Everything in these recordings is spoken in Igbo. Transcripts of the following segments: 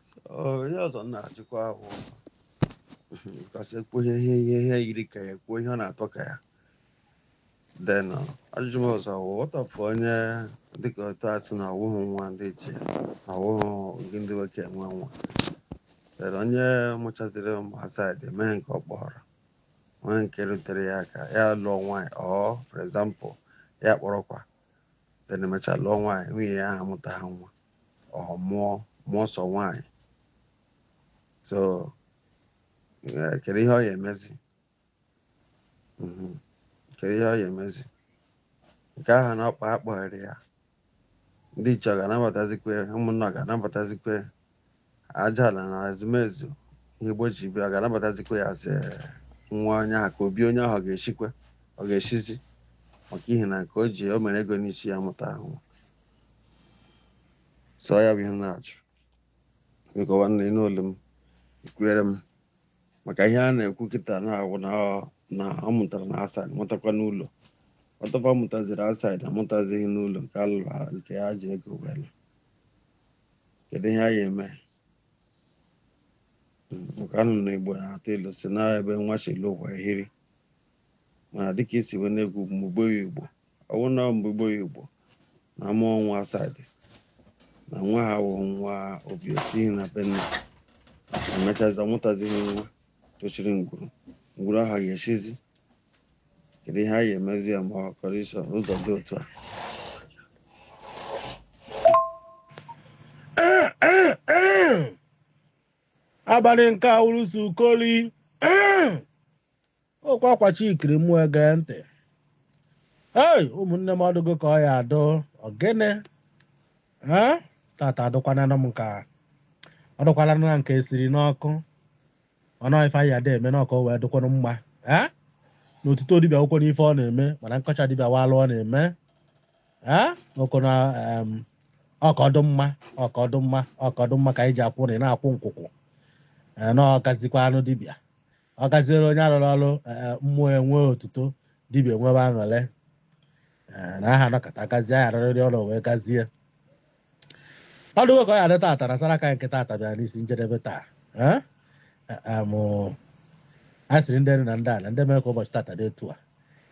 So, ihe ọzọ m na-ajụkwa bụ ka a sị e kwuo ihe ihe ihe ihe yiri ka ya kwuo ihe ọ na-atọ ka ya then uh, ajụjụ m ọzọ bụ what of onye dịka otu a sị na ọwụghị nwa ndị ichie na ọwụghị gị ndị nwoke nwe nwa then onye mụchaziri ụmụ outside emeghe nke ọ kpọrọ nwee nke rutere ya aka ya lụọ nwaanyị or for example ya kpọrọkwa then emechaa lụọ nwaanyị nwunye ya aha amụtaha nwa or mụọ mụọ sọ nwaanyị so eh, kedu ihe ọ ya emezi Mhm. kedu ihe ọ ya emezi nke ahụ na ọkpa akpọghere ya ndị ichie ọ ga-anabatazikwe ụmụnna ọ ga-anabatazikwe Aja ala na ezumezu ihe Igbo ji biri ga-anabatazikwa ya as nwa onye ahụ ka obi onye ahụ ga-echikwa ọ ga-echizi maka ihi na nke o ji o mere ego n'isi ya amụtahụ so ya bụ ihe m na-ajụ biko nwanne n'olu m ekwuere m maka ihe a na-ekwu kịta na-awụ na ọ- na ọ mụtara na outside mụtakwa n'ụlọ what of a mụtaziri outside amụtazighị n'ụlọ nke a lụrụ ha- nke ha ji ego wee lụ. kedu ihe a ya eme nke anụ na igbo na-atụ ilu sị na ebe nwa si lọ ụwa ehiri mana dịka i si wee na-ekwu mgbe igbo ya igbo ọ wụ na mgbe igbo ya igbo na a mụọ nwa outside na nwa aha awụhụ nwa obi o sihi na be nna emechazi ọ mụtazighị nwa tochiri ngwuru ngwuru aha ga-echizi kedu ihe a ya emezi ya ma ọ kọrọ iso n'ụzọ dị otu a abalị nke awụrụsi ukoli okwu akwachi ikiri m wee gee ntị ei ụmụnne m ọ dụgo ka ọ ya adụ ogene ha tata adụkwananụ m nka ọ dụkwananụ na nke e siri n'ọkụ ọ nọ ife anyị ada eme na ọka o wee dịkwanụ mma ee na otuto dibịa akwụkwọ n'ife ọ na-eme mana nkọcha dibịa walụ ọ na-eme ee ọkụ na em, ọkọdụ mma ọkọdụ mma ọkọdụ mma ka anyị ji akwụ na ị na-akwụ nkwụkwụ ee na ọgazikwa anụ dibịa ọ gaziere onye alụrụ ọrụ ee, mmụọ enwe otuto dibịa enwebe aṅụle ee, na aha nọkọta gazie anyị arịrịrị ọrụ wee gazie ọ dịgo ka ọ ya adị tata na saraka nke tata bịara n'isi njedebe taa Eh? Eh, em, a sịrị ndị elu na ndị ala ndị mere ka ụbọchị tata dị etu a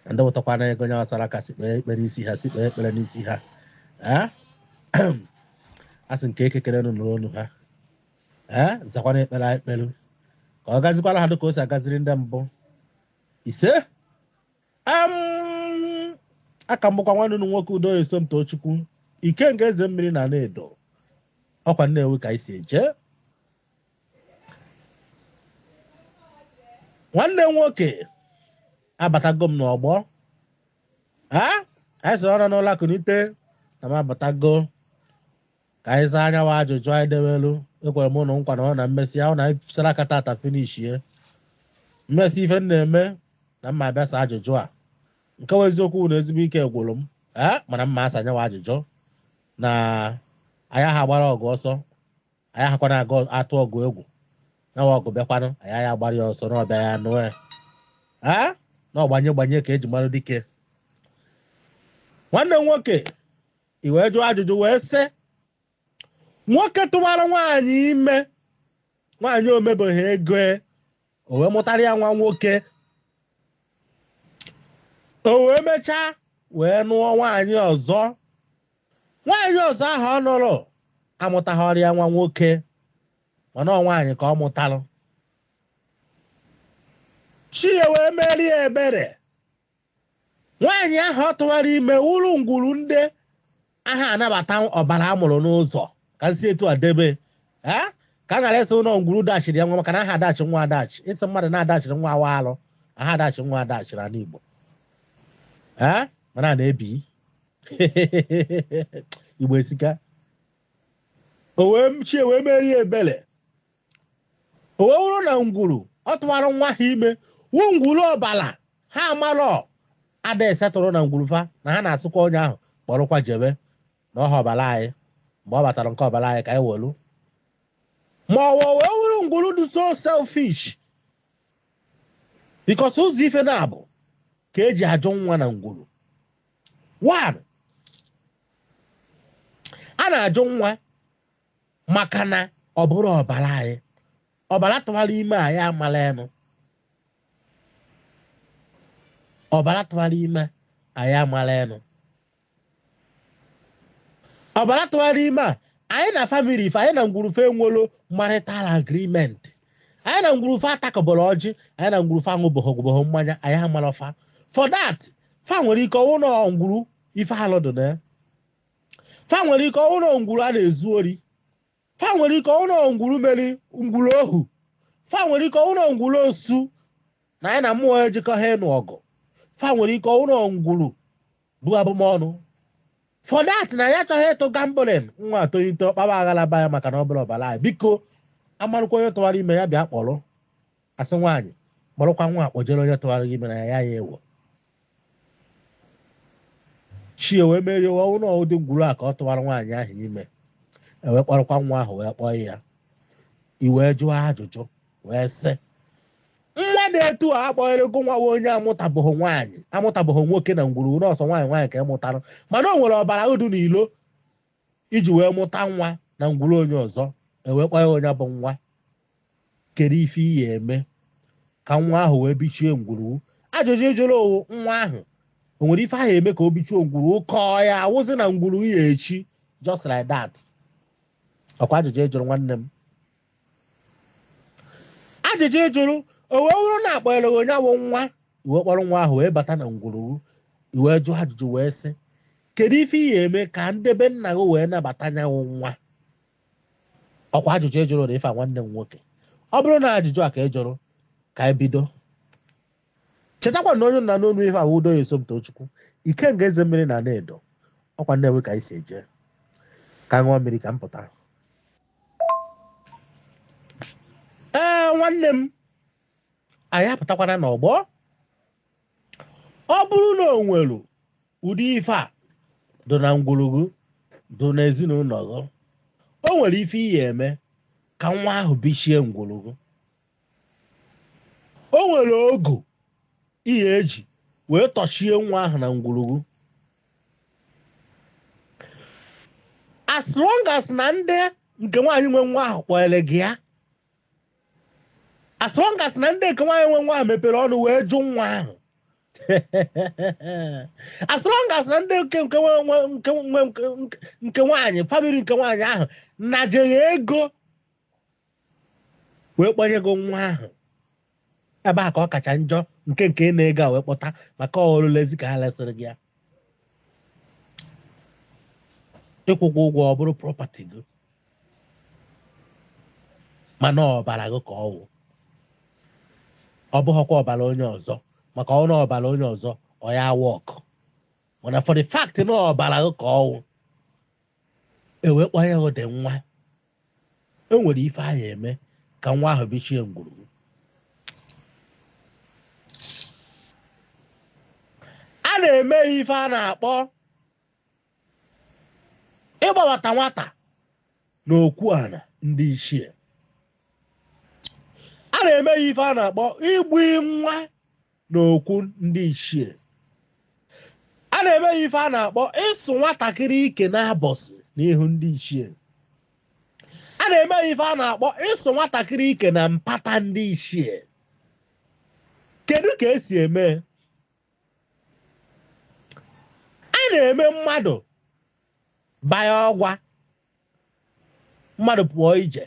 na ndị wụtakwa na ego nyawa saraka sị kpee ekpere isi ha sị kpee ekpere n'isi ha Eh? a sị nke Eke kere nụ nụrụ olu ha Eh? zakwana ekpere anyị kpelu ka ọ gazikwara ha dịka o si agaziri ndị mbụ ise Em, a ka m bụkwa nwanne unu nwoke Udo Esomtochukwu Ikenga eze mmiri n'Anaedo ọ kwa Nnewi ka anyị si eje nwanne m nwoke abatago m n'ọgbọ a anyị sịrị ọ nọ n'ụla kunite na m abatago ka anyị zaa anyanwụ ajụjụ anyị dewelu ekwere m ụnụ nkwa na ọ na m mesịa ahụ na anyị fichara aka tata finishie m mesịa ife m na-eme na m ma-abịa saa ajụjụ a nke wa eziokwu na ezigbo ike gwụrụ m ee mana m ma-asa anyanwụ ajụjụ na anyị aha agbara ọgụ ọsọ anyị ahakwana aga atụ ọgụ egwu nawa ọgụ bịakwanụ anyị aha agbara ya ọsọ na ọ bịa ya anụ ya ee na ọgbanye gbanye ka e ji mara dike nwanne m nwoke i wee jụọ ajụjụ wee sị nwoke tụwara nwaanyị ime nwaanyị o mebeghị ego e, o wee mụtara ya nwa nwoke o wee mechaa wee nụọ nwaanyị ọzọ nwaanyị ọzọ ahụ ọ nụrụ amụtaghịrị ya nwa nwoke mana ọ nwaanyị ka ọ mụtalụ chi ya wee meere ya ebere nwaanyị ahụ ọ tụwara ime wụrụ ngwuru ndị aha anabata ọbala a mụrụ n'ụzọ ka m si etu a debe ee ka a ghara ịsị na ọ ngwuru dachiri ya nwa maka na aha adachi nwa adachi ị sị mmadụ na-adachiri nwa ọ wụ alụ aha adachi nwa adachi n'ala Igbo ee mana na obi Igbo esika o wee chi ya wee meere ya ebele o wee wụrụ na ngwuru ọ tụwara nwa ha ime wụ ngwuru ọbala ha amarọ ada esetụrụ na ngwuru fa na ha na-asịkwa onye ahụ kpọrọkwa jebe na ọha ọbala anyị mgbe ọ batara nke ọbala anyị ka anyị welu ma o wee wee wụrụ ngwuru dị so selfish because ụzọ ife naabọ ka e ji ajụ nwa na ngwuru one a na-ajụ nwa maka na ọ bụrọ ọbara anyị ọbara tụwara ime anyị amala enu ọbara tụwara ime anyị amala enu ọbara tụwara ime a anyị na family fa anyị na ngwuru fa enwelọ marital agreement anyị na ngwuru fa atakọbọrọ ọjị anyị na ngwuru fa aṅụbọhọ aṅụbọhọ mmanya anyị amalọ fa for that fa nwere ike wụrụ ngwuru ife alụ dụ na ya fa nwere ike wụrụ ngwuru a na-ezu ori fa nwere ike wụrụ ngwuru mere ngwuru ohu fa nwere ike wụrụ ngwuru osu na anyị na mmụọ ejikọha ịnụ ọgụ fa nwere ike wụrụ ngwuru bu abụmọnụ for that na ya achọghị ịtụ gambling nwa atolite ọ kpaba aghala be ya maka na ọ bụlọ ọbala anyị biko a marụkwa onye tụwara ime ya bịa kpọrọ a sị nwaanyị kpọrọkwa nwa a kpọjere onye tụwara ime na ya ya ewo chie wee merie ọnwụ na ụdị ngwuru a ka ọ tụwara nwaanyị ahụ ime e wee kpọrọkwa nwa ahụ wee kpọọ ya i wee jụọ ajụjụ wee sị nwa na etu a a kpọnyere gụ nwa onye amụtabụghị nwaanyị amụtabụghị nwoke na ngwuru na ọ sọ nwaanyị nwaanyị ka ị mụtara mana o nwere ọbara gị dị na ilo i ji wee mụta nwa na ngwuru onye ọzọ e wee kpọnye gị nya bụ nwa kedu ife ị ya eme ka nwa ahụ wee bichie ngwuru gị ajụjụ ị jụrụ ọwụ nwa ahụ o nwere ife a ya eme ka o bichie ngwuru gị ka ọ ya awụzi na ngwuru gị ya echi just like that ọkwa ajụjụ ị jụrụ nwanne m ajụjụ ị jụrụ o wee wụrụ na a kpọrọ gị nya wụ nwa i wee kpọrọ nwa ahụ wee bata na ngwuru gị i wee jụọ ajụjụ wee sị kedu ife ị ya eme ka nde be nna gị wee nabata nya wụ nwa ọkwa ajụjụ ị jụrụ na ife nwanne m nwoke ọ bụrụ na ajụjụ a ka ị jụrụ ka anyị bido chetakwa na onye ị na-anụ onu ife a wụ udoye somtochukwu ikenga eze mmiri na nne edo ọkwa nnewi ka anyị si eje ka ṅụọ mmiri ka m pụta ee nwanne m anyị apụtakwana n'ọgbọ ọ bụrụ na o nwere ụdị ife a dị na ngwuru gị dị n'ezinụlọ gị o nwere ife ị ya eme ka nwa ahụ bichie ngwuru gị o nwere ogo ị ya eji wee tọchie nwa ahụ na ngwuru gị as long as na ndị nke nwaanyị nwe nwa ahụ kpọnyere gị ya as long as na ndị nke nwaanyị nwe nwa ahụ mepere ọnụ wee jụ nwa ahụ as long as na ndị nke nke nwaanyị family nke nwaanyị ahụ naje gị ego wee kpọnye gị nwa ahụ ebe a ka ọ kacha njọ nke nke na-ego a wee kpọta maka ọ dịrịzi ka ha lesịrị gị ya ị kwụgwo ụgwọ ọ bụrụ property gị mana ọbara gị ka ọwụ ọ bụghịkwa ọbara onye ọzọ maka ọwụ na ọbara onye ọzọ ọ ya work mana for the fact na ọbara gị ka ọwụ e wee kpọnye gị ụdị nwa e nwere ife a ya eme ka nwa ahụ bichie ngwuru a na-eme ife a na-akpọ ịgbabata nwata na okwu ana ndị ichie a na-eme ya ife a na-akpọ igbu nwa na okwu ndị ichie a na-eme ya ife a na-akpọ ịsụ nwatakịrị ike n'abọsị n'ihu ndị ichie a na-eme ya ife a na-akpọ ịsụ nwatakịrị ike na mpata ndị ichie kedu ka esi eme a na-eme mmadụ baya ọgwa mmadụ pụọ ije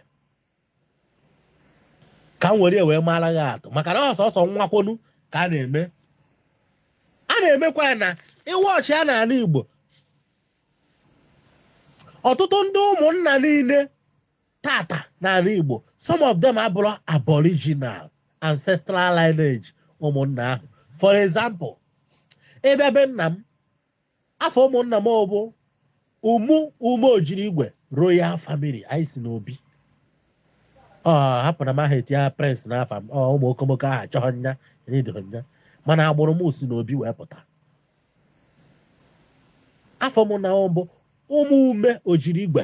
ka m were wee mara gị atụ maka na ọ sọsọ nwa kwọnụ ka a na-eme a na-emekwa ya na ịwa ọchị a n'ana Igbo ọtụtụ ndị ụmụnna niile tata n'ana Igbo some of them abụrọ aboriginal ancestral lineage ụmụnna ahụ for example ị bịa be nna m afa ụmụnna m bụ ụmụ ume ojiri igwe royal family anyị si n'obi ọ hapụ na m aha etinye prince n'afa m ọ ụmụ okomoko aha chọọ nya enedoghị nya mana agbụrụ m si n'obi wee pụta afa ụmụnna bụ ụmụ ume ojiri igwe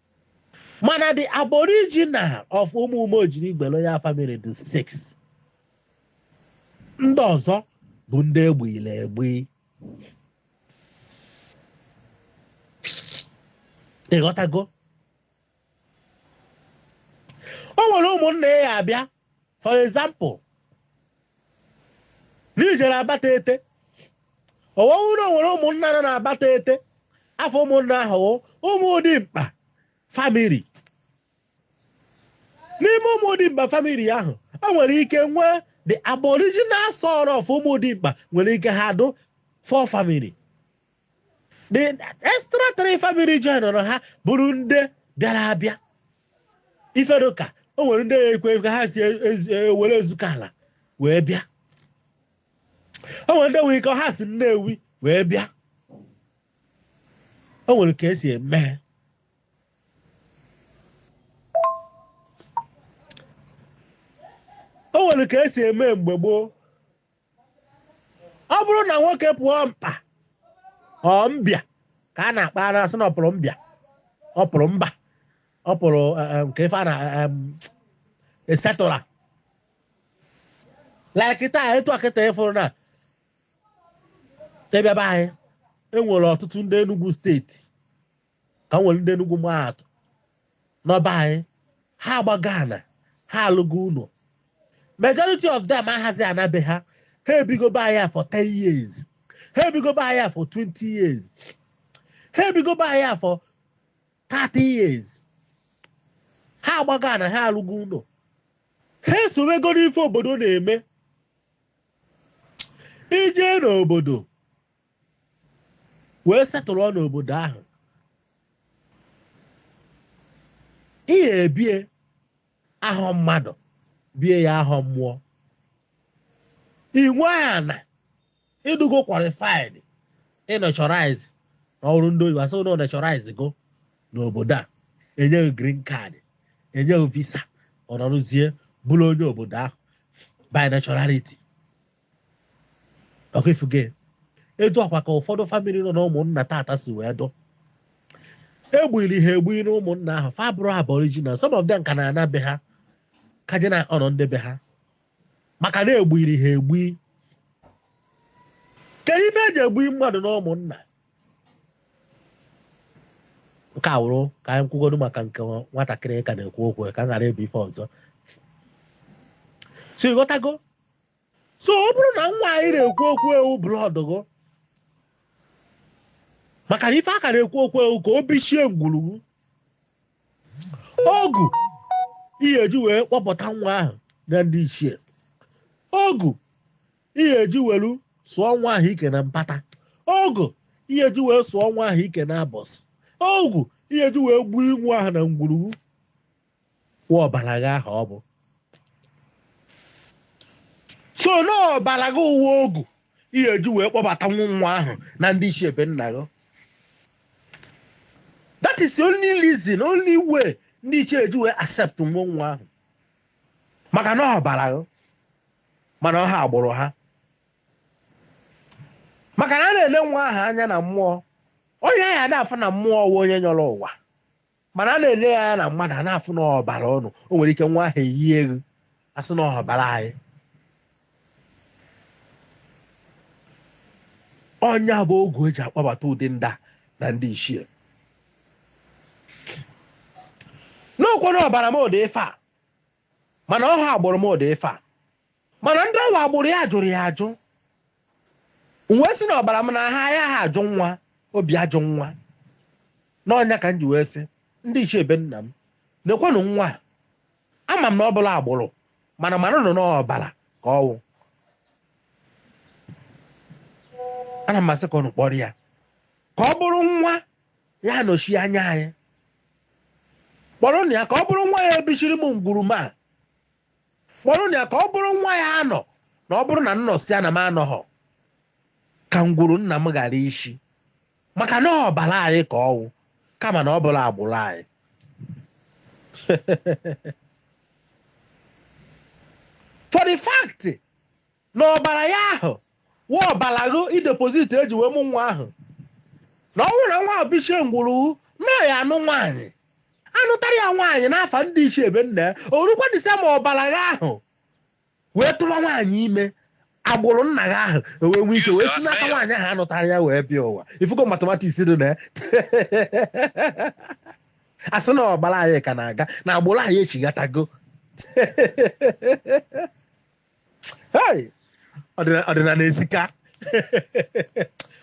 mana the aboriginal of ụmụ ume ojiri igwe royal family dị six ndị ọzọ bụ ndị egbuile egbu ị ghọtago o nwere ụmụnna ị ya-abịa for example n'i jere Abatete ọwọwụ na nwere ụmụnna nọ na Abatete afa ụmụnna ahụ ụmụ dimkpa family n'ime ụmụ dimkpa family ahụ o nwere ike nwee the aboriginal son of ụmụ dimkpa nwere ike ha dụ four family the extra three family joinụrụ ha bụrụ ndị bịara abịa ife dụ ka o nwere ndị nwere ike ha si Owerre Ezukala wee bịa o nwere ndị nwere ike ha si Nnewi wee bịa o nwere ka esi eme o nwere ka esi eme mgbe gboo ọ bụrụ na nwoke pụọ mkpa or mbịa ka a na-akpọ a na-asị na ọ pụrụ mbịa ọ pụrụ mba ọ pụrụ eh, eh, nke ife a na eh, em, esetụla like taa etu a kịta ị fụrụ na ị bịa be anyị e nwere ọtụtụ ndị Enugu steeti ka nwere ndị Enugu maa atụ n'ọba anyị ha agbago ana ha alụgo ụnọ majority of them ahazi ana be ha ha ebigo be anyị for 10 years ha ebigo be anyị for 20 years ha ebigo be anyị for 30 years ha agbago ana ha alụgo ụnọ ha esowego n'ife obodo na-eme ije n'obodo wee settle n'obodo ahụ ihe ebie ahọ mmadụ bie ya ahọ mmụọ inwe ana ịdụgo qualified ịnaturalize na ọ wụrụ ndị oyibo asị na ị naturalize go n'obodo a enye ghị green card enye ghị visa ọ nọrụzie bụrụ onye obodo ahụ by naturality ọkwa ịfụgo etu a kwa ka ụfọdụ family nọ na ụmụnna tata si wee dụ egbuli ha egbuli na ụmụnna ahụ fa bụrụ aboriginal some of them ka na-ana be ha ka je na ọnọ ndị be ha maka na egbuli ha egbu kedu ife eji egbu mmadụ na ụmụnna nke a wụrụ ka anyị kwugodo maka nke nwatakịrị ka na-ekwu okwu ka m ghara ịbụ ife ọzọ so ịghọtago so ọ bụrụ na nwa anyị na-ekwu okwu e wụ blood gụ maka na ife a ka na-ekwu okwu e wụ ka o bichie ngwurugwu ogu ihe eji wee kpọbata nwa ahụ na ndị ichie ogu ihe eji welu sụọ nwa ahụ ike na mpata ogu ihe eji wee sụọ nwa ahụ ike na abọsị ogu ihe eji wee gbuo nwa ahụ na ngwurugwu wụ ọbara gị ahụ ọ bụ so na ọbara gị ọ wụ ogu ihe eji wee kpọbata nwa nwa ahụ na ndị ichie be nna gị that is the only reason only way ndị ichie ji wee accept nwa nwa ahụ maka na ọbara gị mana ọ ha agbụrụ ha maka na a na-ele nwa ahụ anya na mmụọ onye a na-afụ na mmụọ wụ onye yọrọ ụwa mana a na-ele ya anya na mmadụ a na-afụ na ọbara unu o nwere ike nwa ahụ eyie ghụ asị na ọbara anyị ọ nya bụ oge eji akpọbata ụdị ndị a na ndị ichie n'okwu na ọbara m ụdị ife a mana ọ ha agbụrụ m ụdị ife a mana ndị ọ wụ agbụrụ ya jụrụ ya ajụ wee sị na ọbara m na ha ya ha ajụ nwa obi ajụ nwa na ọ nya ka m ji wee sị ndị ichie be nna m nekwanụ nwa a ama m na ọ bụrọ agbụrụ mana manụnụ n'ọbara ka ọ wụ ana m asị ka unu kpọrọ ya ka ọ bụrụ nwa ya anọchie anya anyị kpọrọ na ya ka ọ bụrụ nwa ya ebichiri m ngwuru ma kpọrọ na ya ka ọ bụrụ nwa ya anọ na ọ bụrụ na m nọsịa na m anọghọ ka ngwuru nna m ghara ichi maka na ọbara anyị ka ọ wụ kama na ọ bụrọ agbụrụ anyị for the fact na ọbara ya ahụ wụ ọbara gụ i deposit eji wee mụ nwa ahụ na ọ bụrụ na nwa ahụ bichie ngwuru na ya anụ nwaanyị anụtara ya nwaanyị n'afa ndị ichie be nna ya o rukwa disemba ọbara gị ahụ wee tụwa nwaanyị ime agbụrụ nna gị ahụ o wee nwee ike wee si n'aka nwaanyị ahụ anụtara ya wee bịa ụwa ị fụgo mathematics dị na ya a sị na ọbara anyị ka na-aga na agbụrụ anyị echighatago Hey! Ọdịna- ọdịnala esika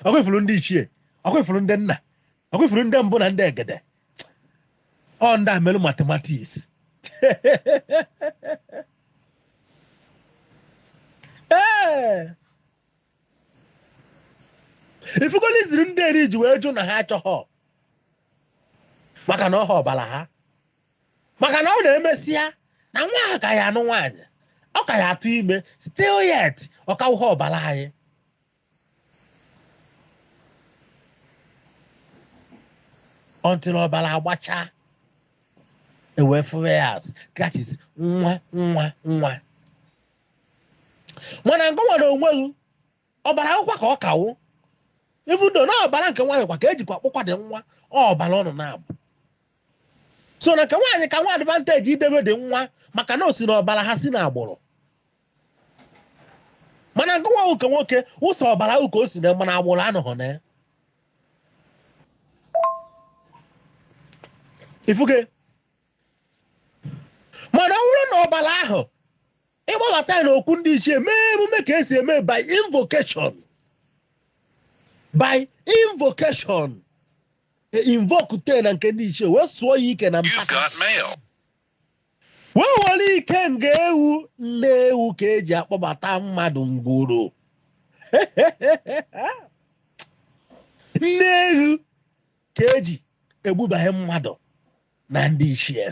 ọkwa ị fụrụ ndị ichie ọkwa ị fụrụ ndị nna ọkwa ị fụrụ ndị mbụ na ndị egede ọ ndị a merụ mathematics Ee! ị fụgo reason ndị eri ji wee jụ na ha achọghọ maka na ọ wụghọ ọbara ha maka na ọ na e mesịa na nwa ahụ ka ya anụ nwaanyị ọ ka ya atụ ime still yet ọ ka wụha ọbara anyị until ọbara agbacha e wee fụwa ya as that is nwa nwa nwa mana ngụwa n'onwe gị ọbara wụkwa ka ọ ka wụ even though na ọbara nke nwaanyị kwa ka ejikwa kpụkwa the nwa ọ ọbara ụnụ naabọ so na nke nwaanyị ka nwe advantage idebe the nwa maka na o si n'ọbara ha si n'agbụrụ mana ngụwa wụ nke nwoke ọ sọ ọbara ahụ ka o si na mana agbụrụ anọghọ na ya ị fụgo mana ọ bụrụ na ọbara ahụ ị kpọbata ya n'okwu ndị ichie mee emume ka esi eme by invocation e invoke te na nke ndị ichie wee sụọ ya ike na mpaka wee were ikenga ewu nne ewu ka eji akpọbata mmadụ ngwuru nne ewu ka eji egbubanye mmadụ na ndị ichie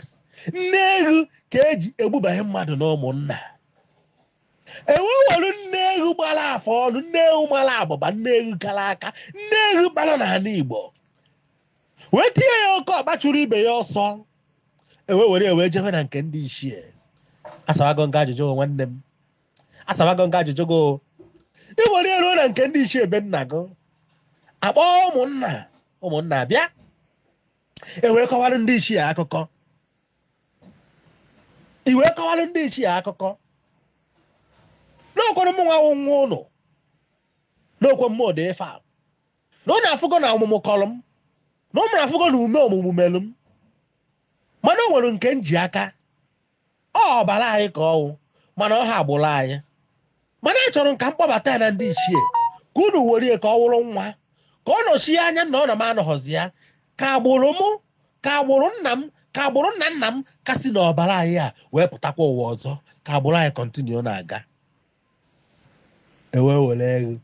nne eghu ka eji egbubanye mmadụ na ụmụnna ewe were nne eghu gbara afọ ọnụ nne eghu mara abụba nne eghu kara aka nne eghu bara n'ala igbo wee tinye ya oke ọkpa chụrụ ibe ya ọsọ ewe were ewe jebe na nke ndị ichie asabago m gị ajụjụ gị nwanne m asabago m gị ajụjụ gị ị were ya ruo na nke ndị ichie be nna gị akpọọ ụmụnna ụmụnna bịa e wee kọwara ndị ichie akụkọ i wee kọwara ndị ichie akụkọ n'ọkwara mụnwa nwa ụnụ n'okwe mmụọ dị ife a na ụnụ afụgo na ọmụmụ kọrọ m na ụnụ afụgo na ume ọmụmụ melụ m mana o nwere nke m ji aka ọ ọbara anyị ka ọwụ mana ọhọ agbụrụ anyị mana achọrọ m ka m kpọbata ya na ndị ichie ka unu werie ka ọ wụrụ nwa ka ọ nọchie anya m na ọ na m anọghọzi ya ka agbụrụ mụ ka agbụrụ nna m ka agbụrụ nna nna m ka si na ọbara anyị a wee pụtakwa ụwa ọzọ ka agbụrụ anyị kọntinu na-aga ewee were eghu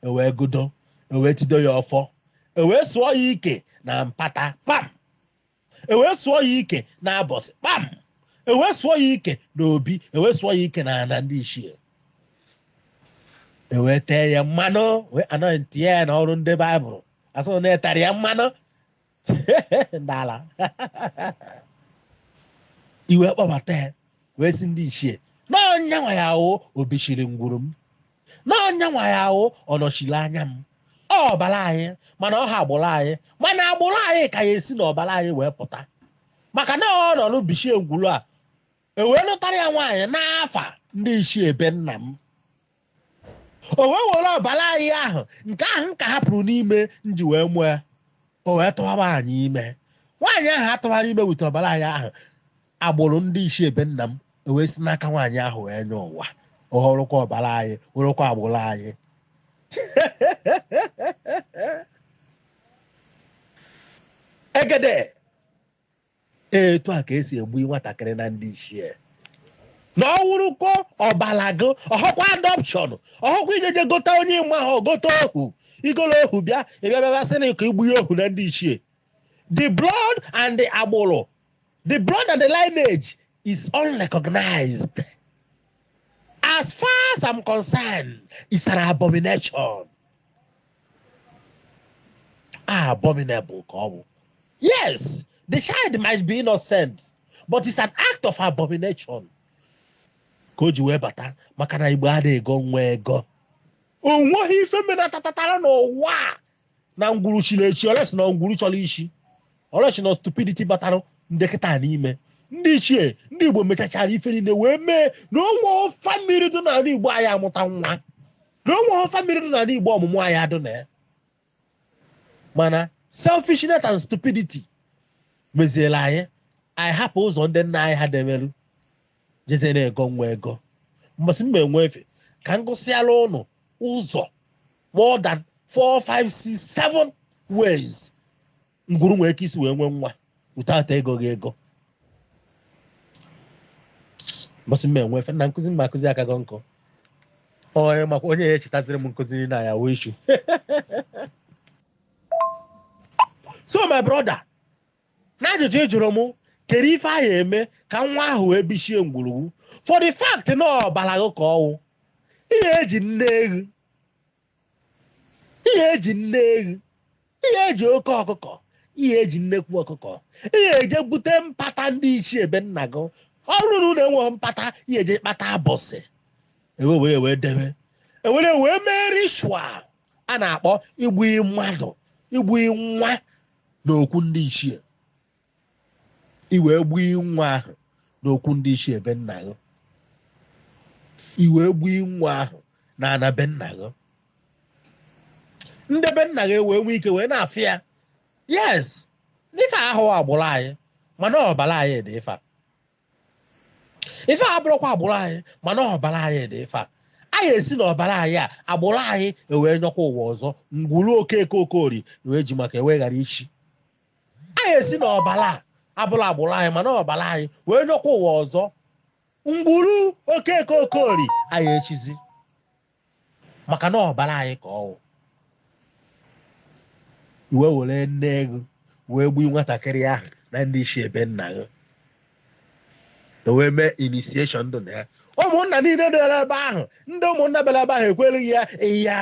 ewee gọdo ewee tido ya ọfọ ewee sụọ ya ike na mpata pam ewee sụọ ya ike na abọsị kpam ewee sụọ ya ike na obi ewee sụọ ya ike na ana ndị ichie ewee tee ya mmanụ wee anointi ya n'ọrụ ndị baịbụl asị na etere ya mmanụ n'ala i wee kpọbata ya wee sị ndị ichie n'onye a nwa ya wụ obichiri ngwuru m na onye a nwa ya wụ ọnọchiri anya m ọ ọbara anyị mana ọhọ agbụrụ anyị mana agbụrụ anyị ka ya esi n'ọbara anyị wee pụta maka na ọ nọ n'obichie ngwuru a ewee lụtara ya nwaanyị n'afa ndị ichie be nna m o wee were ọbara anyị ahụ nke ahụ m ka hapụrụ n'ime m ji wee mụọ ya o wee tụwa nwaanyị ime nwaanyị ahụ atụwara ime wute ọbara anyị ahụ agbụrụ ndị ichie be nna m ewee si n'aka nwaanyị ahụ wee nye ụwa ọ wụrụkwa ọbara anyị wụrụkwa agbụrụ anyị egede etu a ka esi egbu nwatakịrị na ndị ichie na ọ wụrụkwa ọbara gị ọhọkwa adọpshọn ọhọkwa ijeje gota onye ị mahọ gota ohu igolo ohu bịa ịbịa bịa bịa sị na ịkọ igbu ya ohu na ndị ichie the blood and the agbụrụ the blood and the lineage is unrecognized. As far as I'm concerned, it's an abomination. Abominable ka ọ bụ. Yes, the child might be innocent, but it's an act of abomination. ka o ji wee bata maka na igbo anaghị ego nwa ego onweghị ife mere tatatara n'ụwa na ngwuru chiri echi unless na ngwuru chọrọ ichi unless na stupidity batara ndị kịta n'ime ndị ichie ndị igbo mechachara ife niile wee mee na onwerọ family dị n'ala igbo aya amụta nwa na onwerọ family dị n'ala igbo ọmụmụ aya adụ na ya mana selfishness and stupidity meziela anyị anyị hapụ ụzọ ndị nna anyị ha demeru jezie na-ego nwa ego mbọsị m enwe efe ka m gụsịala ụnụ ụzọ more than 4 5 6 7 ways ngwuru nwee ike isi wee nwee nwa without egoghị ego mbọsị m enwe efe na nkụzi m akụzi akago nkụ onye makwa onye ya echetaziri m nkụzi na ya wụ issue so my brother N'ajụjụ ị jụrụ mụ, kedụ ife a ya eme ka nwa ahụ wee bichie ngwuru gị for the fact na ọbara gị ka ọwụ ị ya eji nne eghu ị ya eji nne eghu ị ya eji oke ọkụkọ ị ya eji nnekwu ọkụkọ ị ya eje bute mpata ndị ichie be nna gị ọ bụrụ na unu enweghị mpata ị ya eje kpata abọsị ewee were wee debe ewere wee mee ritual a na-akpọ igbu mmadụ igbu nwa n'okwu ndị ichie i wee gbuo nwa ahụ n'okwu ndị ichie be nna gị i wee gbuo nwa ahụ na ana be nna gị ndị be nna gị wee nwee ike wee na-afụ ya yes n'ife ahụ agbụrụ anyị mana ọbara anyị dị ife a. ife a abụrọkwa agbụrụ anyị mana ọbara anyị dị ife a anyị esi na ọbara anyị a agbụrụ anyị ewee nyọkwa ụwa ọzọ ngwuru okeke okorie wee ji maka ya wee ghara ichi anyị esi na ọbara a abụrọ agbụrụ anyị mana ọbara anyị wee nyọkwa ụwa ọzọ ngwuru okeke okorie aya echizi maka na ọbara anyị ka ọwụ i wee were nne eghu wee gbuo nwatakịrị ahụ na ndị ichie be nna gị ewee mee initiation ndụ na ya ụmụnna niile dịra ebe ahụ ndị ụmụnna bịara ebe ahụ ekwelu gị ya ya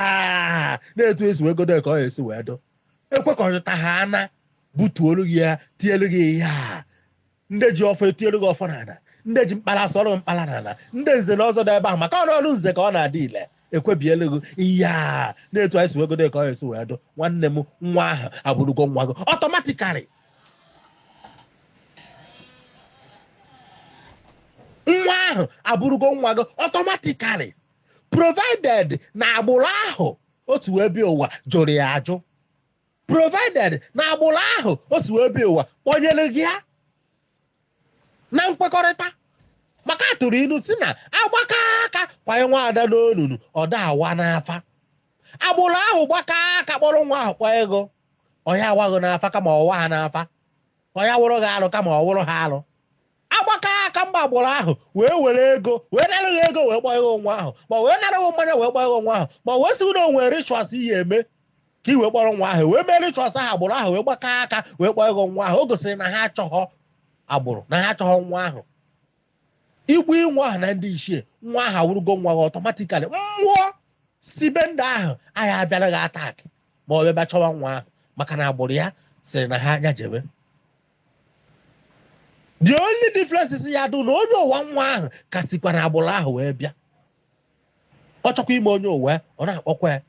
na-etu esi wee godo ka ọ esi wee dụ ekwekọrịta ha ana butuolu gị ya tielu gị ya ndị ji ọfọ etiere gị ọfọ n'ala ndị ji mkpara asụọrọ mkpara n'ala ndị nze na ọzọ dị ebe ahụ maka ọnụ nze ka ọ na-adị ile ekwebielu gị ihe a na-etu anyị si wee godo ka ọ esi wee dụ nwanne m nwa ahụ abụrụgo nwa gị automatically nwa ahụ abụrụgo nwa gị automatically provided na agbụrụ ahụ o si wee bịa ụwa jụrụ ya ajụ provided na agbụrụ ahụ o si wee bịa ụwa kpọnyere gị ya na nkwekọrịta maka atụrụ ilu sị na agbakọ aka kwanye nwa ada n'onunu ọ da awa n'afa agbụrụ ahụ gbakọ aka kpọrọ nwa ahụ kwa ego ọ ya awaghị n'afa kama ọ waa n'afa ọ ya wụrụ gị alụ kama ọ wụrụ ha alụ agbakọ aka mgbe agbụrụ ahụ wee were ego wee nara gị ego wee gbaa gị nwa ahụ ma wee nara gị mmanya wee gbaa gị nwa ahụ ma wee sị na o nwe rituals ị ya-eme ka i wee kpọrọ nwa ahụ wee mee rituals ahụ agbụrụ ahụ wee gbakọ aka wee gbaa gị nwa ahụ o gosiri na ha achọghọ agbụrụ na ha achọghọ nwa ahụ igbu nwa ahụ na ndị ichie nwa ahụ awụrụgo nwa gị automatically mmụọ si be ndị ahụ ya abịara gị attack ma ọ bịa chọwa nwa ahụ maka na agbụrụ ya sịrị na ha nya jebe the only difference is ya dụ na onye ụwa nwa ahụ ka sikwa na agbụrụ ahụ wee bịa ọ chọkwa ime onye ụwa ọ na-akpọkwa ya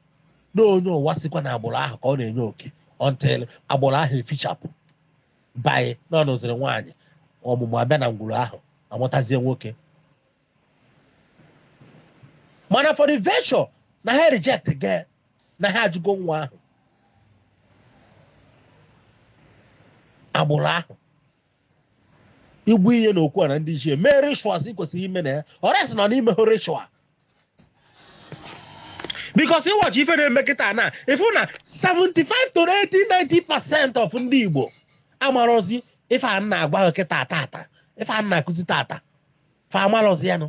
na onye ụwa sikwa na agbụrụ ahụ ka ọ na-enye oke until agbụrụ ahụ efichapụ by na ọ nụziri nwaanyị ọmụmụ abịa na ngwuru ahụ amụtazie nwoke mana for the virtue na ha reject go na ha ajụgo nwa ahụ agbụrụ ahụ i gbu ihe na okwu ana ndị ichie mee rituals ị kwesịrị ime na ya ọrịa sị nọ n'ime hụ ritual because ị watch ife na-eme kịta na ị fụ na 75 to 80 90 percent of ndị Igbo amarozi ife a na-agwa ha kịta tata ife a na-akụzi tata fa amalọzi ya nụ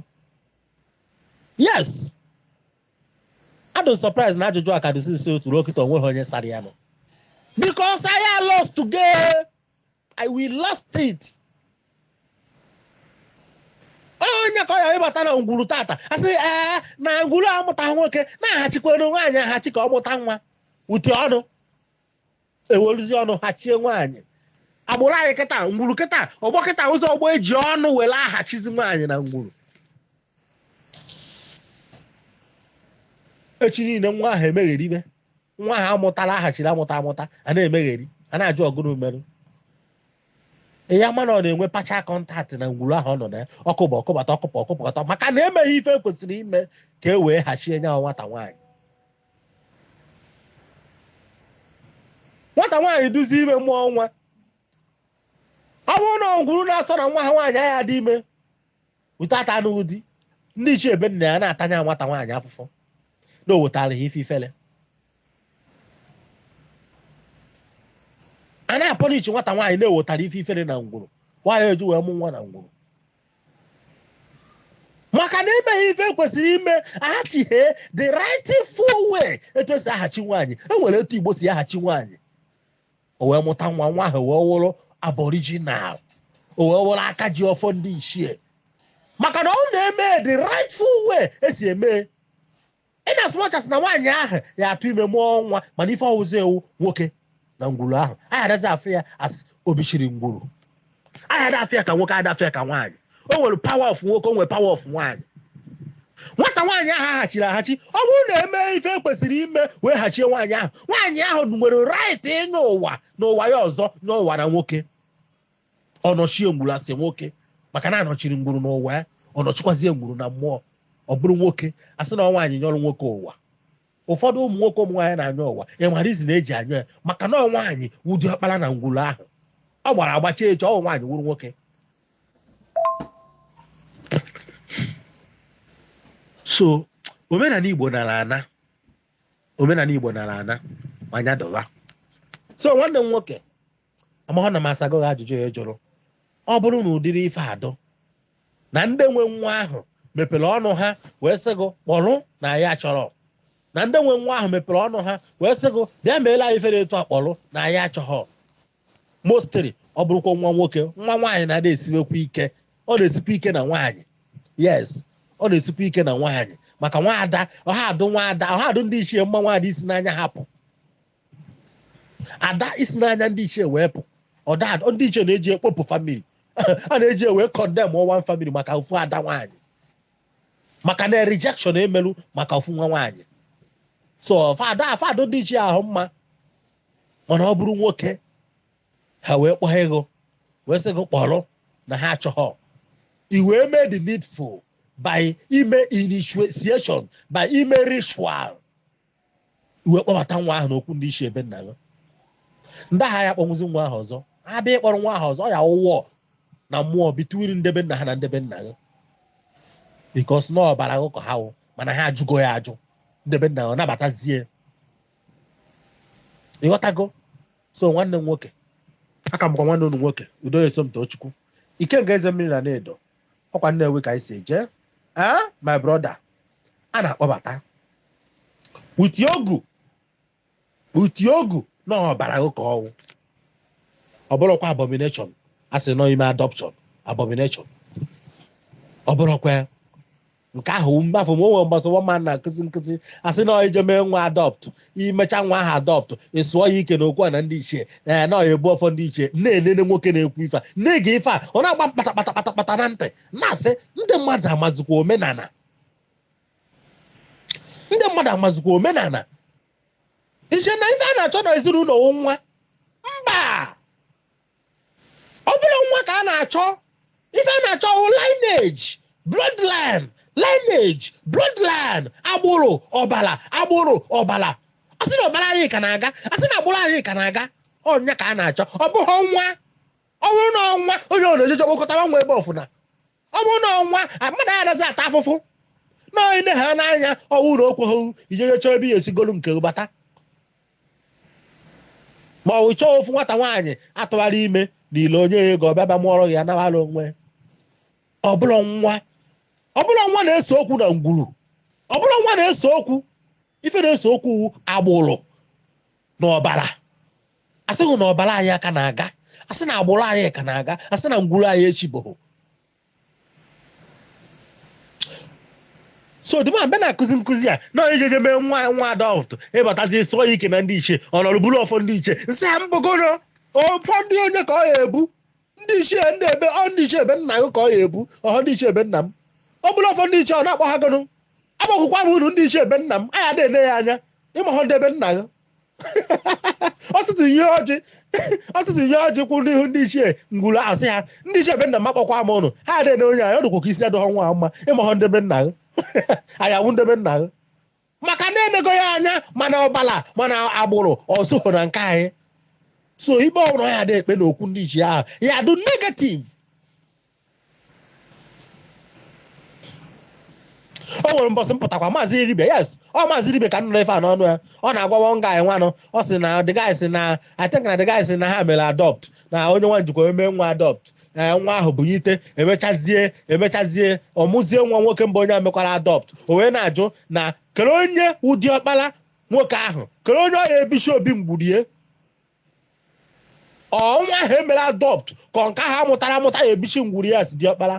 yes a dụ surprise na ajụjụ a ka dị since ụtụtụ ruo kịta onweghị onye sara ya nụ because anyị lost go ya we lost it onye ka ọ ya ịbata na ngwuru tata asị ee na ngwuru amụta nwoke na-ahachikwa nwaanyị ahachi ka ọ mụta nwa eji ọnụ eweruzie ọnụ hachie nwaanyị agbụrụ anyị kịta ngwuru kịta ọgbọ kịta ụzọ ọgbọ eji ọnụ were ahachizi nwaanyị na ngwuru echi niile nwa ahụ emegheribe nwa ahụ amụtala ahachiri amụta amụta a na-emegheri a na-ajụ ọ gụnụ merụ ya mana ọ na-enwe pacha contact na ngwuru ahụ ọ nọ na ya ọkụ bụ ọkụbata ọkụpụ ọkụpụkọta maka na emeghị ife kwesịrị ime ka e wee hachie nya nwata nwaanyị nwata nwaanyị dụzie ime mụọ nwa ọ bụrụ na ngwuru na-asọ na nwa ha nwaanyị ya-adị ime without anụghị di ndị ichie be nna ya na-ata nya nwata nwaanyị afụfụ na o wetara ha ife ifele a na-apunish nwata nwaanyị na o wetara ife ifele na ngwuru nwaanyị eji wee mụọ nwa na ngwuru maka na emeghị ife kwesịrị ime ahachighị the rightful way etu esi ahachi nwaanyị enwere etu igbo si ahachi nwaanyị o wee mụta nwa nwa ahụ wee wụrụ aboriginal o wee wụrụ aka ji ọfọ ndị ichie maka na ọ na-eme the rightful way esi eme in as much as na nwaanyị ahụ ya atụ ime mụọ nwa mana ife ọ wụzi wụ nwoke na ngwuru ahụ anyị adazi afụ ya as obichiri ngwuru anyị ada afụ ya ka nwoke ada afụ ya ka nwaanyị o nwere power of nwoke o nwere power of nwaanyị nwata nwaanyị ahụ ahachiri ahachi ọ bụrụ na eme ife kwesịrị ime wee hachie nwaanyị ahụ nwaanyị ahụ nwere right ịnyọ ụwa na ụwa ya ọzọ n'ụwa na nwoke ọ nọchie ngwuru as nwoke maka na anọchiri ngwuru n'ụwa ya ọ nọchikwazie ngwuru na mmụọ ọ bụrụ nwoke asị na nwaanyị nyọrọ nwoke ụwa ụfọdụ ụmụ nwoke ụmụ nwaanyị na-anyọ ụwa enwere reason eji anyọ ya maka na ọ nwaanyị wụ diọkpara na ngwuru ahụ ọ gbara agbacha eche ọ nwaanyị wụrụ nwoke so omenala igbo nara ana omenala igbo nara ana manya dọba so nwanne m nwoke amahụ na m asago gị ajụjụ ị jụrụ ọ bụrụ na ụdịrị ife adụ na ndị nwe nwa ahụ mepere ọnụ ha wee sị gị kpọrọ na anyị achọrọ na ndị nwe nwa ahụ mepere ọnụ ha wee sị gị bịa meela anyị fere etu akpọrọ na anyị achọghọ mostly ọ bụrụkwa nwa nwoke nwa nwaanyị na-ada esiwekwa ike ọ na-esikwa ike na nwaanyị yes ọ na-esikwa ike na nwaanyị maka nwaada ọha adụ nwaada ọha adụ ndị ichie mma nwaada isi n'anya ha pụ ada isi n'anya ndị ichie wee pụ ọda ndị ichie na-eji ekpopụ family a na-eji wee condemn one family maka ofu ada nwaanyị maka na rejection emelu maka ofu nwa nwaanyị so fada fado ndị ichie ahụ mma mana ọ bụrụ nwoke ha wee kpọọ gị wee sị gị kpọrọ na ha achọghọ i wee mee the needful by ime initiation by ime ritual i wee kpọbata nwa ahụ n'okwu ndị ichie ebe nna ya ndị ahụ ya kpọnwụzi nwa ahụ ọzọ ha bịa ịkpọrọ nwa ahụ ọzọ ọ ya-awụ war na mmụọ between ndebe nna ha na ndebe nna ya because na ọbara akụkọ ha wụ mana ha ajụgo ya ajụ ndebe nna ya ọ nabatazie ịghọtago so nwanne m nwoke aka mkwa nwanne unu nwoke udoye somtochukwu ikenga eze mmiri na anaedo ọkwa Nnewi ka anyị si eje ee eh, my brother a na-akpọbata with ogu with ogu na ọbara ụka ọnwụ ọ bụrọkwa abomination a sị na ọ ime adoption abomination ọ bụrọkwa nke ahụ mafụ ma o nwere mbọsị nwa mmadụ na-akụzi nkụzi asị na i je mee nwa adopt i mecha nwa ahụ adopt ị sụọ ya ike na okwu ana ndị ichie ee na ọ ya-ebu ọfọ ndị ichie na-enene nwoke na-ekwu ife a na-ege ife a ọ na-agba mkpata kpata kpata kpata na ntị na-asị ndị mmadụ amazikwa omenala ndị mmadụ amazikwa omenala i che na ife a na-achọ na ezinụlọ wụ nwa mba ọ bụrọ nwa ka a na-achọ ife a na-achọ wụ lineage bloodline lineage bloodline agbụrụ ọbala agbụrụ ọbala a sị na ọbara anyị ka na-aga a sị na agbụrụ anyị ka na-aga ọ ya ka a na-achọ ọ bụghị nwa ọ bụrụ na ọ nwa onye ọ na-ejeje kpokọtawa nwa ebe ọwụna Ọ bụrụ na ọ nwa, mmadụ ya adazi ata afụfụ na onye nne ha n'anya ọ wụ na o kwehọ i jeje chọọ ebe ị ya-esi golu nke gị bata ma ọ bụ chọọ ofu nwata nwaanyị a tụwara ime n'ilo nye ya ego ọ bịa bịa mụọrọ gị ya nawara onwe ọ bụrọ nwa ọ bụrọ nwa na-ese okwu na ngwuru ọ bụrọ nwa na-ese okwu ife na-ese okwu wụ agbụrụ na ọbala asị na ọbala anyị ka na-aga asị na agbụrụ anyị ka na-aga asị na ngwuru anyị echi bụ so the man ebe na-akụzi nkụzi a na onye jeje mee nwa adopt ị batazi sụọ ya ike na ndị ichie ọ nọrọ buru ọfọ ndị ichie m sị ha ọ bụgodu ọfọ ndị onye ka ọ ya-ebu ndị ichie ndị ebee ọ ndị ichie be nna gị ka ọ ya-ebu ọhọ ndị ichie be nna m o buru ọfọ ndị ichie ọ na-akpọ ha gụnụ agbakwụkwa m unu ndị ichie be nna m ha ya na-ele ya anya ị mahọ ndị be nna gị ọ tụtụlie ọjị ọ tụtụlie ọjị kwụ n'ihu ndị ichie ngwuru a sị ha ndị ichie be nna m akpọkwa m ụnụ ha adịghị onye anyị ọ dụkwa ka isi adịghọ nwa a mma ị mahọ ndị be nna gị anyị awụ ndị be nna gị maka na enego ya anya ma na ọbala ma na agbụrụ o sohọ na nke anyị so ife ọbụla ya dị ekpe n'okwu ndị ichie ahụ ya-adụ negative o nwere mbọsị m pụtakwa maazị dibịa yes ọ maazị dibịa ka m nụrụ ife a n'ọnụ ya ọ na-agwa one guy nwanụ ọ sị na the guy sị na i think na the guy sị na ha mere adopt na onye nwa jekwa mee nwa adopt ee eh, nwa ahụ bunyite emechazie emechazie ọ mụzie nwa nwoke mba onye a mekwara adopt o wee na-ajụ na kedụ onye wụ diọkpara nwoke ahụ kedụ onye ya-ebichi obi ngwuru ọ nwa ahụ emere adopt ka nke ahụ a mụtara amụta ya-ebichi ngwuru ya as diọkpara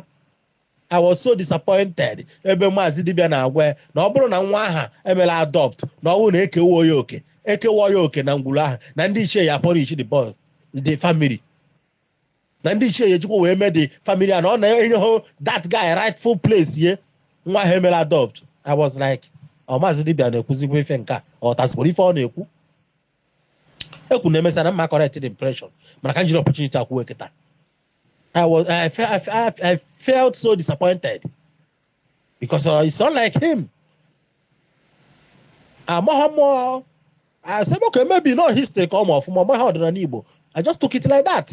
I was so disappointed ebe maazị dibịa na-agwa ya na ọ bụrụ na nwa ahụ emere adopt na ọ bụrụ na ekehọ ya oke ekehọ ya oke na ngwuru ahụ na ndị ichie ya punish the family na ndị ichie ya-ejikwa wee mee the family and ọ na enyehọ that guy rightful place ye nwa ahụ emela adopt I was like ọ maazị dibịa na-ekwuzikwa ife nke a ọ tazikwara ife ọ na-ekwu ekwu na emesara mma correct the impression mana ka m jiri opportunity a kwuo kịta I was I, fe- I, fe- I felt so disappointed because uh, it's not like him amaghị m uh, asị m okay maybe na ọ history ka ọ ma ọfụma ọ maghị ọdịnala Igbo I just took it like that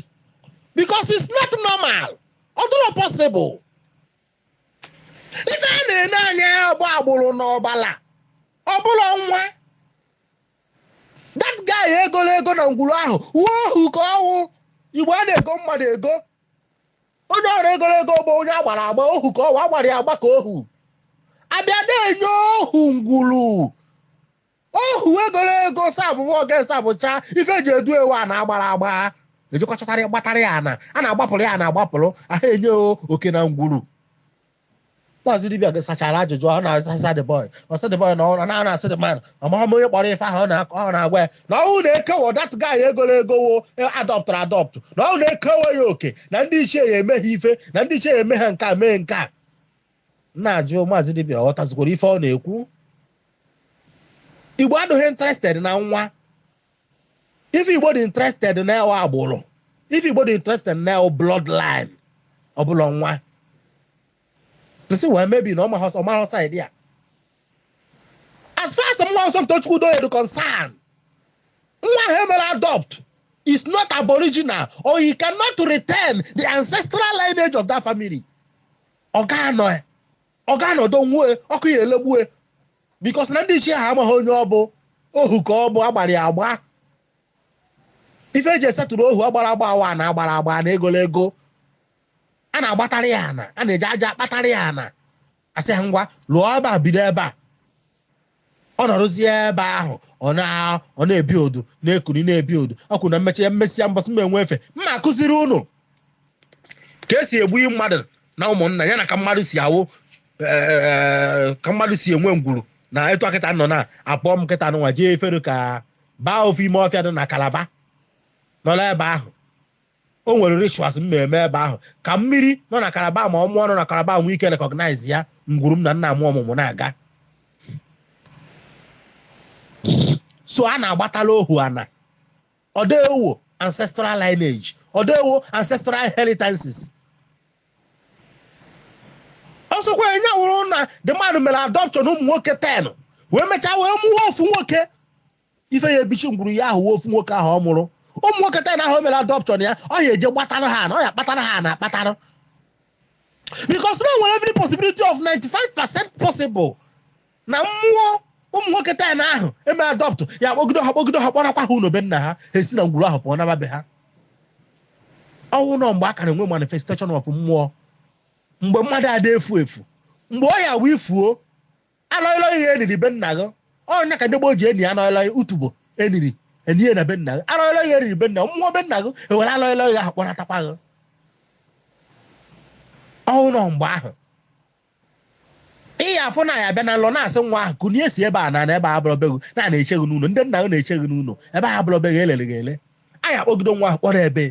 because it's not normal ọ dịrọ possible ife a na-ene anya bụ agbụrụ na ọbala ọ bụrọ nwa that guy egolo ego na ngwuru ahụ wụ ohu ka ọ wụ Igbo a na-ego mmadụ ego onye oru egolo ego bụ onye agbara agba ohu ka ọ wụ agbara ya agba ka ohu abịa na-enye ohu ngwuru ohu egolo ego serve ọga servecha ife eji edu ya wụ a na-agbara agba ejikọchọtara ya gbatara ya ana a na-agbapụrụ ya ana agbapụrụ aha enye oke na ngwuru Maazị Dibia sachara ajụjụ ọ na-asasa the boy ọ sị the boy na ọ na asị the man amaghị m onye kpọrọ ife ahụ ọ na- ọ na-agwa ya na ụmụnna ekewo that guy egolo ego or adọptụrụ adọptụ na ụmụnna ekewo ya oke na ndị ichie ya eme ha ife na ndị ichie ya eme ha nke a mee nke a na-ajụ maazị Dibia ọ ghọtazikwara ife ọ na-ekwu Igbo adịghị interested na nwa Ife Igbo dị interested na ya wụ agbụrụ, ife Igbo dị interested na ya wụ bloodline, ọ bụrọ nwa. M sị well maybe na ọ marọ side ya. As far as mụwa Somtochukwu Udoye dị concerned, nwa ahụ emere adopt is not aboriginal or he cannot retain the ancestral lineage of that family. Ọ ga-anọ ya. ọ ga-anọdụ nwue ọkụ ya elegbue because na ndị ichie ha amaghị onye ọ bụ ohu ka ọ bụ agbara ya agba ife eji esettle ohu agbara agba awa na agbara agba na egolo ego a na-agbatara ya ana a na-eji aja akpatara ya ana asị ha ngwa lụọ ebe a bido ebe a ọ nọrụzie ebe ahụ ọ na- ọ na-ebi odu na-ekuri na-ebi odu ọ kwuru na mmechi ya m mesịa mbọsị m nwe efe m ma akụziri unu ka esi ebuye mmadụ na ụmụnna ya na ka mmadụ si awụ eh, ka mmadụ si enwe ngwuru na etu a kịta nọ na apụ m kịta nụnwa jee efere ka baa ofu ime ọfịa dị na Calabar nọla ebe ahụ o nwere rituals m ma-eme ebe ahụ ka mmiri nọ na Calabar mmụọ nọ na Calabar nwee ike recognize ya ngwuru m na nna m ọmụmụ na-aga so a na-agbatala ohu ana ọ dewo ancestral lineage ọ dewo ancestral inheritances ọ sọkwa ya wụrụ na the man mere adoption ụmụ nwoke 10 wee mechaa wee mụọ ofu nwoke ife ya ebichi ngwuru ya wụ ofu nwoke ahụ ọ mụrụ ụmụ nwoke 10 ahụ o mere adoption ya ọ ya eje gbatara ha ana ọ ya akpatara ha ana akpatara because na o nwere every possibility of 95 percent possible na mmụọ ụmụ nwoke ten ahụ eme adopt ya kpọgido ha kpọgido ha kpọrakwa ha ụlọ be nna ha ha esi na ngwuru ahụ pụọ naba be ha ọ wụ nọ mgbe a ka na-enwe manifestation of mmụọ mgbe mmadụ ada efu efu mgbe ọ ya-awụ i fuo anọghịlọ ihe eniri be nna gị ọ ya ka ndị gboo ji eni anọghịlọ ya utubo eniri enie na be nna gị anọghịlọ ihe eniri be nna gị mmụọ be nna gị ewere anọghịlọ ihe ahụ kpọnatakwa gị ọ wụ nọ mgbe ahụ ị ya-afụ na ya bịa na nlọ na-asị nwa ahụ kunie si ebe a na na ebe a abụrọ be gị na a na-eche gị n'ụlọ ndị nna gị na-eche gị n'ụlọ ebe a abụrọ be gị elere gị ele anyị akpọgido nwa ahụ kpọrọ ebe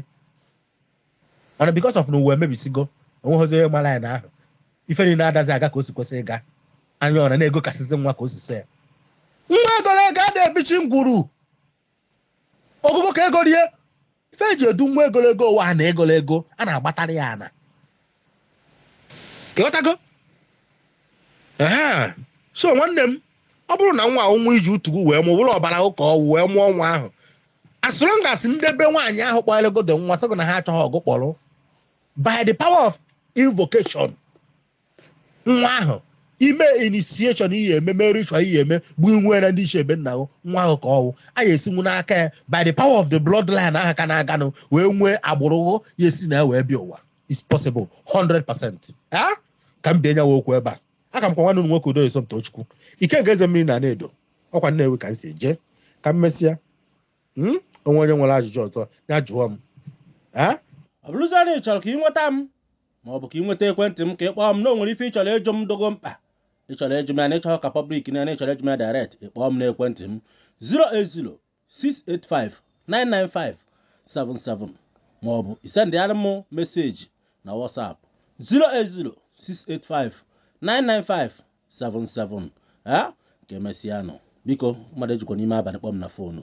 mana because of na ụwa emebisigo o nweghịzi onye mara ya na ahụ ife niile adazi aga ka o si kwesị ịga onye ọra na-egokasịzi nwa ka o si sọ ya nwa egoro ego a na-ebichi ngwuru ogugo ka egoro ya ife eji edu nwa egolo ego ụwa na egolo ego a na-agbatara ya ana ị ghọtago so nwanne m ọ bụrụ na nwa wụ nwa i ji utu gụ wee mụọ bụrụ ọbara ụ ka ọ wụ wee mụọ nwa ahụ as long as ndị be nwaanyị ahụ kpọlegodo nwa sị gụ na ha achọghọ gụ kpọrọ by the power of invocation nwa ahụ i mee initiation i ya-eme mee ritual i ya-eme bụ nwe na ndị ichie be nna gị nwa ahụ ka ọ wụ a ya-esinwu n'aka ya by the power of the bloodline ahụ ka na-aganụ wee nwee agbụrụ ghụ ya-esi na ya wee bịa ụwa is possible 100 percent ah ka m bịa nyawa okwu ebe a a ka m wụkwa nwanne m nwoke udo esomtochukwu ikenga eze mmiri na anaedo ọ kwa nnewi ka m si eje ka emesịa Hmm? onwe onye nwere ajụjụ ọzọ ya jụọ m Ah? ọ bụrụzie na ị chọrọ ka ị nweta m ma ọ bụ ka ị nweta ekwentị m ka ị kpọọ m na o nwere ife ị chọrọ ịjụ m dụ gụ mkpa ị chọrọ ịjụ m ya na ị chọghị ka public na na ị chọrọ ịjụ m ya direct ị kpọọ m n'ekwentị m 08068599577 ma ọ bụ i sendịara m meseji na WhatsApp 08068599577 ah ka emesịanụ biko mmadụ ejikwa n'ime abalị kpọọ m na fonu